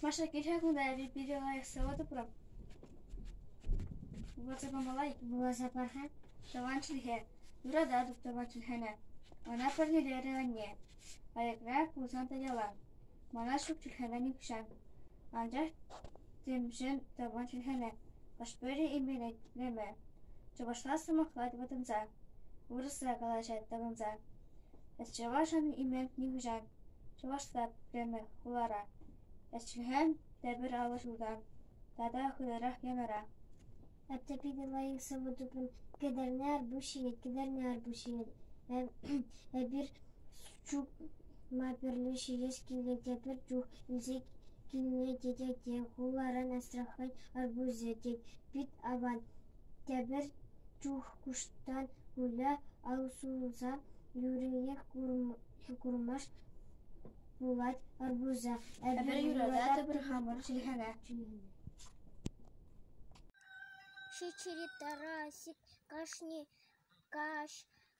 Маша килҫа кунта эпӗ питӗ лайӑх сӑвӑ тупрӑм. Вӑрҫӑ кӑмӑлать, вуласа парсан тӑван чӗлхе, юрата туптӑман чӗлхене, ӑна парнелерӗ анне. Аякра пулсан та ялан. Мана ҫут чӗлхене нихҫан. Анчах темшӗн тӑван чӗлхене хӑш-пӗри именетреме. Чӑвашла сӑмахлать вӑтӑнса. Вырӑсла калаҫать тапӑнса. Чӑвашӑн Именк нихӑҫан чӑвашла пӗтмест хулара, ӗҫлӗхӗн тепӗр алӑ ҫултан тата хытӑрах янӑран. Атте питӗ лайӑх сӑвӑ тупрӑм. Кӗтерне Арпуҫҫи, Кӗтерне Арпуҫҫи. Эпир чупма пӗрле ҫитес килет те пӗр чух илсе килнӗ тетя те хуларан Астрахань Арпуҫӗ тет, пит аван. Тепӗр чух куҫтан уля усӑлласан юриех курмасть пулать арбуза. Эпир юрататӑп хамӑр чӗлхене. Ҫиччӗри Тарасик кашни каҫ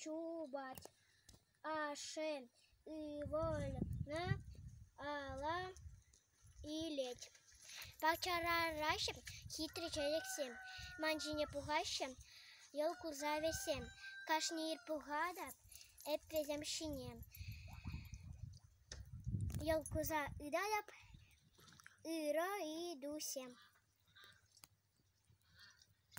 Чупать ашшӗн ывӑлне ала илет. Пахчарараҫҫӗ хитре чечексем, ман ҫине пухаҫҫӗ йӑл курса вӗсем. Кашни ир пухатӑп эп вӗсем ҫине. Йӑл курса ытатӑп ырӑ ыйтусем.